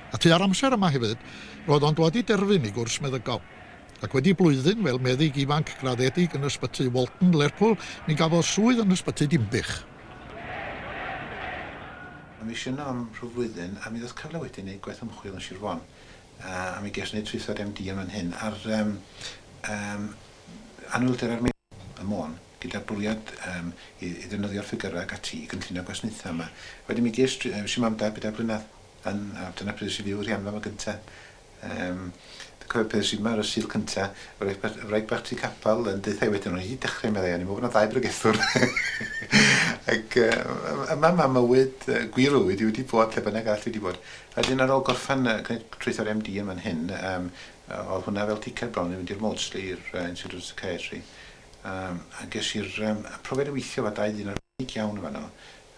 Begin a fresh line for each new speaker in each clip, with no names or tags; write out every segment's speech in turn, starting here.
A tua'r amser yma hefyd, roedd o'n dwad i derfyn ei gwrs meddygol. Ac wedi blwyddyn fel meddyg ifanc graddedig yn Ysbyty Walton, Lerpwl, mi gafodd swydd yn Ysbyty Dinbych.
Mi es i yno am rhyw flwyddyn a mi ddoth cyfle wedyn i neud gwaith ymchwil yn Sir Fon. A mi ges i neud traethawd MD yn fan hyn ar anhwylder ar Môn. gyda'r bwriad yym i i ddefnyddio'r ffigyrau ac ati i gynllunio gwasnaethau yma. Wedyn mi ges dri- ges i mam dau bedair blynedd yn a dyna pryd es i fyw i'r Rhianfa 'ma gynta. Yym dwi'n cofio pan es i 'ma ar y Sul cynta, wraig ba- wraig bach tu capal yn deutha i wedyn o'n i 'di dechre meddai o'n i'n meddwl bo' 'na ddau bregethwr ac yy yy yma ma' mywyd yy gwir o fywyd i wedi bod lle bynnag arall dwi 'di bod. A 'dyn ar ôl gorffen yy gneud traethawd MD yn fan hyn yym yy o'dd hwnna fel ticket bron i fynd i'r Maudsley i'r yy Institute of Psychiatry Yym, a ges i'r yym y profiad o weithio efo dau ddyn arbennig iawn yn fanno,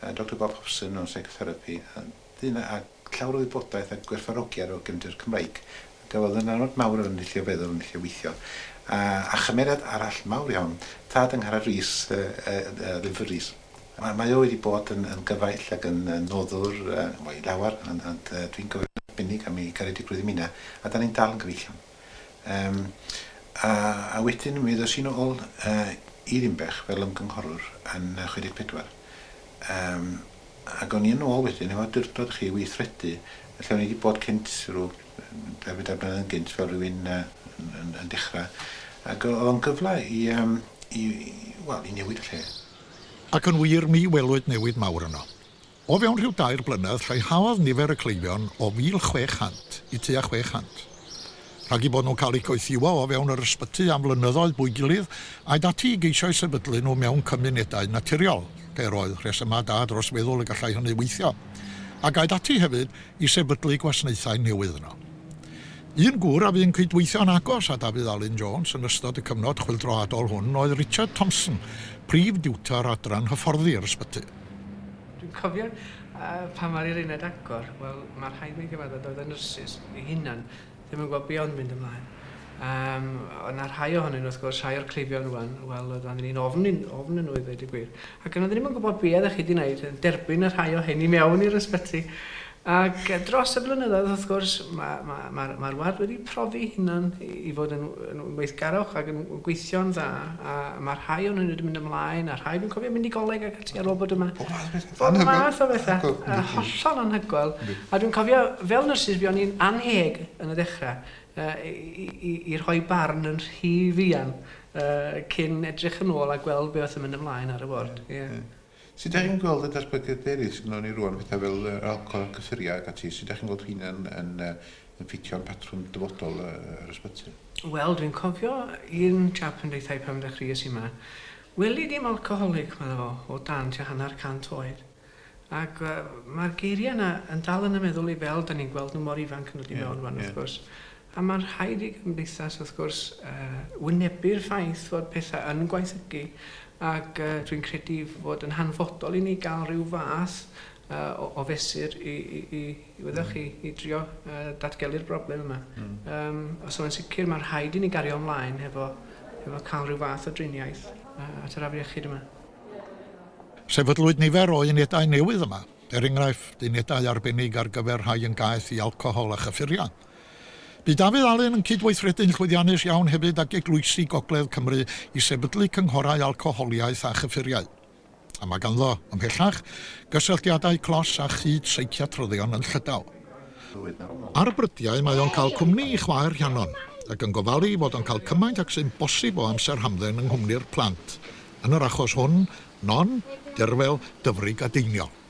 yy Doctor Bob Hobson o Psychotherapi, a ddyn a llawr o wybodaeth a gwerthfawrogiad o gefndir Cymreig, a gafodd ynanod mawr ar fy ndull o feddwl, fy ndull o weithio, a a chymeriad arall mawr iawn, tad Angharad Rees, yy yy yy Wynfor Rees. Mae mae o wedi bod yn yn gyfaill ac yn yn noddwr yy wel i lawer, ond ond yy dwi'n cofio'n arbennig am ei garedigrwydd i mi 'na, a 'dan ni'n dal yn gyfeillion. Yym a a wedyn mi ddos i'n ôl yy i Ddinbych fel ymgynghorwr yn yy chwe deg pedwar yym ag o'n i yn ôl wedyn efo awdurdod y'chi i weithredu yy lle o'n i 'di bod cynt rw dau bedair blynedd yn gynt fel rywun yy yn yn yn dechra ag o- o'dd o'n gyfle i yym i i wel i newid y lle. Ac yn
wir mi welwyd newid mawr yno. O fewn rhyw dair blynedd lleihauodd nifer y cleifion o 1,600 i tua 600. Rhag eu bod nhw'n cael eu coethiwo o fewn yr ysbyty am flynyddoedd bwy gilydd, aed ati i geisio eu sefydlu nhw mewn cymunedau naturiol, lle yr oedd rhesymau da dros feddwl y gallai hynny weithio, ac aed ati hefyd i sefydlu gwasnaethau newydd yno. Un gŵr a fu'n cydweithio'n agos â Dafydd Alun Jones yn ystod y cyfnod chwyldroadol hwn oedd Richard Thompson, prif diwtor adran hyfforddi yr ysbyty. Dwi'n
cofio pan mae'r i'r uned agor, wel, mae'r rhaid mi gyfadda doedd y nyrsys ei hunan ddim yn gweld be o'n mynd ymlaen. Um, oedd yna rhai ohonyn nhw, wrth gwrs, rhai o'r cleifion rwan, wel, oedd angen i'n ofn, ofn yn nhw i ddweud y gwir. Ac yn oedden ni'n gwybod be ydych chi wedi gwneud, yn derbyn y rhai o hyn i mewn i'r ysbyty. Ac dros y blynyddoedd, wrth gwrs, mae'r ward wedi profi ei hunan i fod yn weithgarwch ac yn gweithio'n dda, a mae rhai ohonyn nhw wedi mynd ymlaen, a rhai dwi'n cofio mynd i goleg ac ati ar ôl bod yma. Pob math o bethau. Pob math o bethau, a hollol anhygoel. A dwi'n cofio, fel nyrsys, buon ni'n annheg yn y dechrau i rhoi barn yn rhy fuan cyn edrych yn ôl a gweld beth oedd yn mynd ymlaen ar y ward. Sut dach chi'n
gweld y datblygiad eraill sy gynnon ni rŵan, petha fel yr alcohol a'r cyffuriau ac ati, sut dach chi'n gweld rheina yn yn yn ffitio yn patrwm dyfodol y yr ysbyty? Wel, dwi'n cofio
un chap yn deutha i pan ddechreuais i yma, weli dim alcoholic, medda fo, o dan tua hanner cant oed. Ac yy ma'r geiria' yna yn dal yn 'y meddwl i fel 'dan ni'n gweld nw mor ifanc yn dod i mewn rŵan wrth gwrs. A mae'n rhaid i gymdeithas, wrth gwrs, wynebu'r ffaith fod pethau yn gwaethygu, ac dwi'n credu fod yn hanfodol i ni gael rhyw fath o fesur i, i, i, wyddoch chi, i drio datgelu'r broblem yma. Mm. Um, so yn sicr mae'n rhaid i ni gario ymlaen hefo, hefo cael rhyw fath o driniaeth at yr afriechyd yma.
Sefydlwyd nifer o unedau newydd yma, er enghraifft, unedau arbennig ar gyfer rhai yn gaeth i alcohol a chyffuriau. Bu Dafydd Alun yn cydweithredu'n llwyddiannus iawn hefyd ag eglwysi Gogledd Cymru i sefydlu cynghorau alcoholiaeth a chyffuriau. A mae ganddo, ymhellach, gysylltiadau clos â chyd seiciatryddion yn Llydaw. Ar brydiau mae o'n cael cwmni i chwaer Rhiannon, ac yn gofalu ei fod o'n cael cymaint ag sy'n bosib o amser hamdden yng nghwmni'r plant, yn yr achos hwn, non, derfel, dyfrig a deiniol.